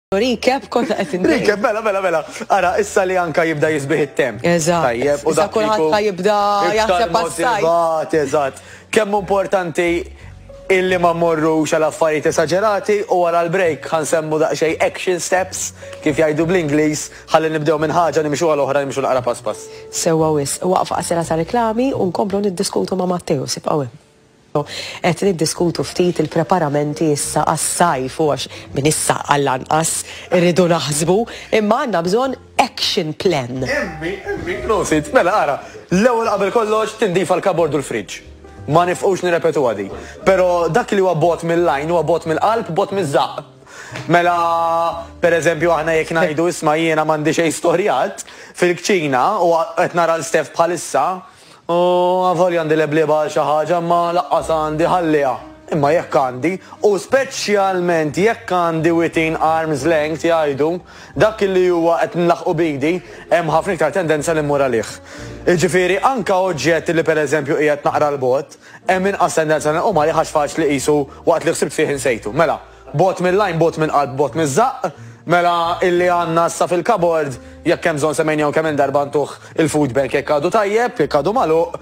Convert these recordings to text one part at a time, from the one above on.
Recap konna qed inti. Recap, mela, mela, mela. Ara, issa li anka jibda jisbih it-temp. Eżatt. Tajjeb, u dak kulħadd ħa jibda jaħseb għas-sajt. Eżatt. Kemm importanti illi ma morru xal affarijiet esagerati u wara l-break ħan semmu daqsxejn action steps kif jgħidu bl-Ingliż ħalli nibdew minn ħaġa nimxu għal oħra nimxu naqra pass pass. Sewwa wis, waqfa qasira ta' reklami u nkomplu niddiskutu ma' Matteo sibqgħu hemm. Qed niddiskutu ftit il-preparamenti issa għas-sajf u għax minn issa għall-anqas irridu naħsbu, imma għandna bżonn action plan. Immi, immi, prosit, mela ara, l-ewwel qabel kollox tindifa l-kabord u l-fridge. Ma nifqux nirrepetuha din. Pero dak li huwa bogħod mill-għajn huwa bogħod mill-qalb, bogħod miż-żaqq. Mela, per eżempju aħna jekk ngħidu isma' jiena m'għandi xejn storjat fil-kċina u qed nara 'l Steph bħalissa, U avolja għandi leblieba għal xi ħaġa, imma laqqas għandi ħalliha. Imma jekk għandi, u speċjalment jekk għandi within arm's length, jgħidu, dak li huwa qed nlaħħqu b'idi, hemm ħafna iktar tendenza li mmur għalih. Jiġifieri anke oġġett li pereżempju qiegħed naqra 'l bogħod, hemm inqas tendenza li nqum għalih għax faċli qisu waqt li ħsibt fih insejtu. Mela. Bogħod mill-għajn, bogħod mill-qalb, bogħod miż-żaqq, mela illi għandna issa fil-kabord, jekk hemm bżonn semmejniehom kemm-il darba ntuh il-food bank jekk għadu tajjeb, jekk għadu magħluq,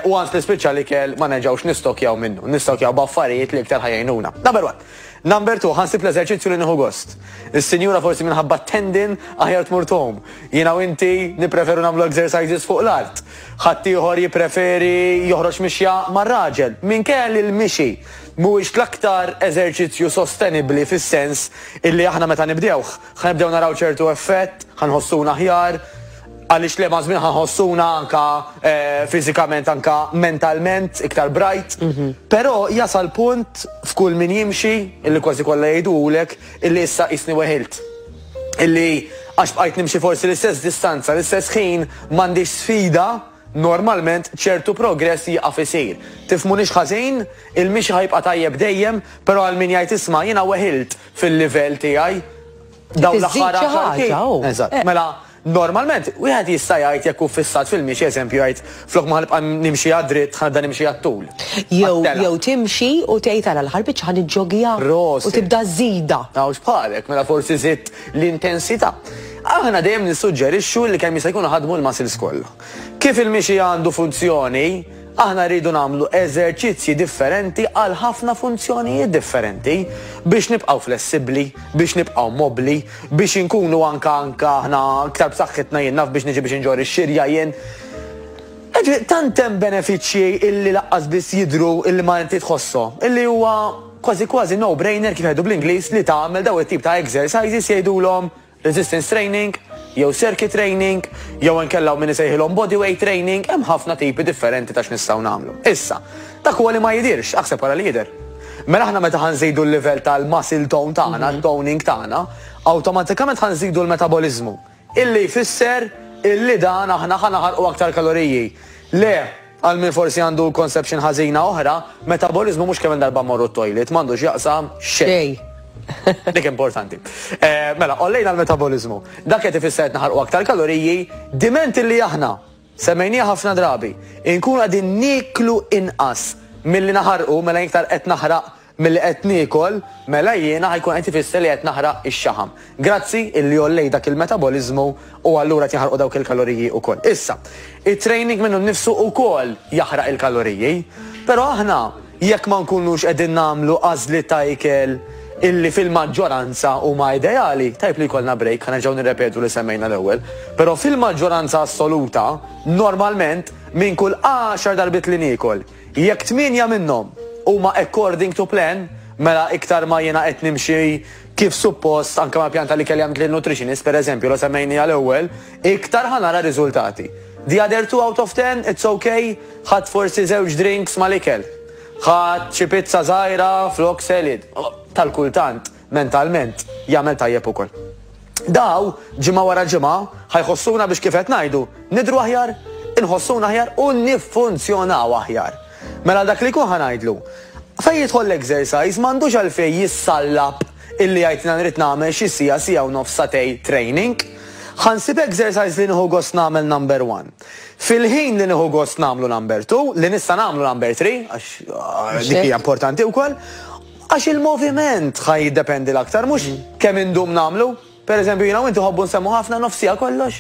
u once li spiċċa l-ikel ma nerġgħux nistokkjaw minnu, nistokkjaw b'affarijiet li iktar ħa jgħinuna. Number one. Number two, ħa nsib l-eżerċizzju li nieħu gost. Is-sinjura forsi minħabba t-tendin aħjar tmur tgħum. Jiena u inti nippreferu nagħmlu exercises fuq l-art. Ħaddieħor jippreferi joħroġ mixja mar-raġel. Minkejja li l-mixi mhuwiex l-aktar eżerċizzju sostenibbli fis-sens illi aħna meta nibdewh, ħa nibdew naraw ċertu effett, ħa nħossuna aħjar, għaliex le maż-żmien ħa nħossuna anke fiżikament anke mentalment iktar bright. Però jasal punt f'kull min jimxi illi kważi kollha jgħiduhulek illi issa qisni weħilt. Illi għax bqajt nimxi forsi l-istess distanza, l-istess ħin, m'għandix sfida, Normalment ċertu progress jieqaf isir. Tifhmunix ħażin, il-mixi ħa jibqa' tajjeb dejjem, però għal min jgħid isma' jiena weħilt fil-livell tiegħi dawn l-aħħar għaxar snin. Eżatt. Mela, normalment wieħed jista' jgħid jekk hu ffissat fil-mixi, eżempju jgħid flok ma ħa nibqa' nimxi għad-dritt ħa nibda nimxi għat-tul. Jew jew timxi u tgħid ara l-aħħar biċċa ħa niġġogija u tibda żżidha. Hawn x'bħalek, mela forsi żidt l-intensità. Aħna dejjem nissuġġerixxu li kemm jista' jkun iħaddmu l-muscles kollha. Kif il-mixi għandu funzjoni, aħna rridu nagħmlu eżerċizzji differenti għal ħafna funzjonijiet differenti, biex nibqgħu flessibbli, biex nibqgħu mobbli, biex inkunu anke anke aħna iktar b'saħħitna jien naf biex niġi biex inġorr ix-xirja jien. Jiġifieri tant hemm benefiċċji illi laqqas biss jidhru illi ma inti tħosshom, illi huwa kważi kważi no-brainer kif jgħidu bl-Ingliż li tagħmel dawn it-tip ta' exercises jgħidulhom, Resistance training, jew circuit training, jew inkella hawn min isejħilhom body weight training, hemm ħafna tipi differenti ta' x'nistgħu nagħmlu. Issa, dak huwa li ma jidhirx, aħseb wara li jidher. Mela aħna meta ħa nżidu l-livell tal-muscle tone tagħna, mhm. toning tagħna, awtomatikament ħa nżidu l-metaboliżmu. Illi jfisser illi dan aħna ħa naħarqu aktar kaloriji. Le, Għal min forsi għandu conception ħażina oħra, metaboliżmu mhux kemm-il darba mmorru t-toilet, m'għandu x'jaqsam xejn. Dik importanti. Mela, qollejna l-metaboliżmu. Dak qed ifisser qed naħarqu aktar kaloriji, diment illi aħna, semmejniha ħafna drabi, inkunu qegħdin nieklu inqas milli naħarqu, mela jien iktar qed naħraq, Milli qed niekol, mela jiena ħa jkun qed ifisser li qed naħraq ix-xaħam. Grazzi illi għollejt dak il-metaboliżmu u allura qed jinħarqu dawk il-kaloriji ukoll. Issa, it-training minnu nnifsu ukoll jaħraq il-kaloriji. Però aħna jekk ma nkunux qegħdin nagħmlu għażliet ta' ikel illi fil-maġġoranza huma ideali, tajjeb li jkollna break, ħa nerġgħu nirrepetu li semmejna l-ewwel, però fil-maġġoranza assoluta, normalment, minn kull għaxar darbiet li niekol, Jekk tmienja minnhom huma according to plan, mela iktar ma jiena qed nimxi kif suppost anke mal-pjan ta' l-ikel li għamilt lin-nutritionist, pereżempju, li semmejniha l-ewwel, iktar ħa nara riżultati. The other two out of ten, it's ok, ħadt forsi żewġ drinks mal-ikel. Ħadt xi pizza żgħira flok salad. Tal-kultant. mentalment jagħmel tajjeb ukoll. Daw, ġimgħa wara ġimgħa, ħa jħossuna biex kif qed ngħidu, nidhru aħjar, inħossuna aħjar u niffunzjonaw aħjar. Mela dak li jkun ħa ngħidlu, fejn jidħol l-exercise m'għandux għalfejn jissallab illi jgħidna nrid nagħmel xi siegħa, siegħa u nofs satej training. Ħansib exercise li nieħu gost nagħmel number one. Fil-ħin li nieħu gost nagħmlu number two, li nista' nagħmlu number three, għax dik hija importanti wkoll, Għax il-moviment ħa jiddependi l-aktar, mhux kemm indum nagħmlu. Per eżempju, jiena u inti nħobbu nsemmu ħafna nofs siegħa kollox.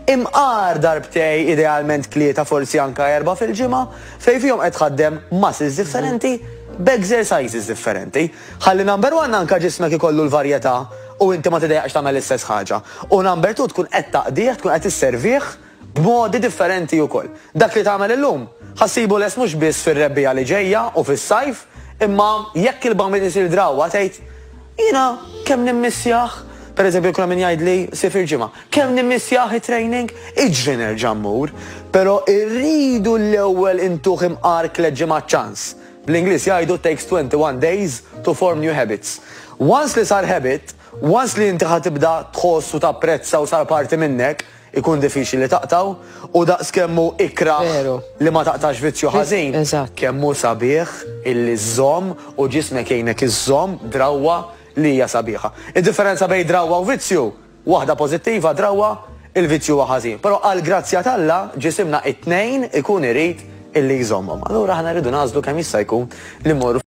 Imqar darbtej, idealment tlieta forsi anke erbgħa fil-ġimgħa, fejn fihom qed tħaddem muscles differenti b'exercises differenti. Ħalli number one anke ġismek ikollu l-varjetà u inti ma tidejjaqx tagħmel l-istess ħaġa. U number two tkun qed taqdih, tkun qed isservih, B'modi differenti ukoll. Dak li tagħmel illum, ħa ssibu lest mhux biss fir-rebbiegħa li ġejja u fis-sajf, imma jekk il-bambin isir drawwa tgħid, Jiena kemm nimmissjah! Pereżempju jkun hemm min jgħidli, Sir fil-ġimgħa, kemm nimmissjah it-training! Iġri nerġa' mmur. Però irridu l-ewwel intuh imqar tliet ġimgħat ċans. Bl-Ingliż jgħidu it takes 21 days to form new habits. Once li sar habit, once li inti ħa tibda tħoss u tapprezza u sar parti minnek, ikun diffiċli li taqtgħu u daqskemm hu ikrah Veru. li ma taqtax vizzju ħażin, Eżatt. kemm hu sabiħ illi żżomm u ġismek jgħinek iżżomm drawwa li hija sabiħa. Id-differenza bejn drawwa u vizzju, waħda pożittiva, drawwa, il-vizzju huwa ħażin. Però għall-grazzja t'Alla, ġisimna t-tnejn ikun irid illi jżommhom. Allura aħna rridu nagħżlu kemm jista' jkun li mmorru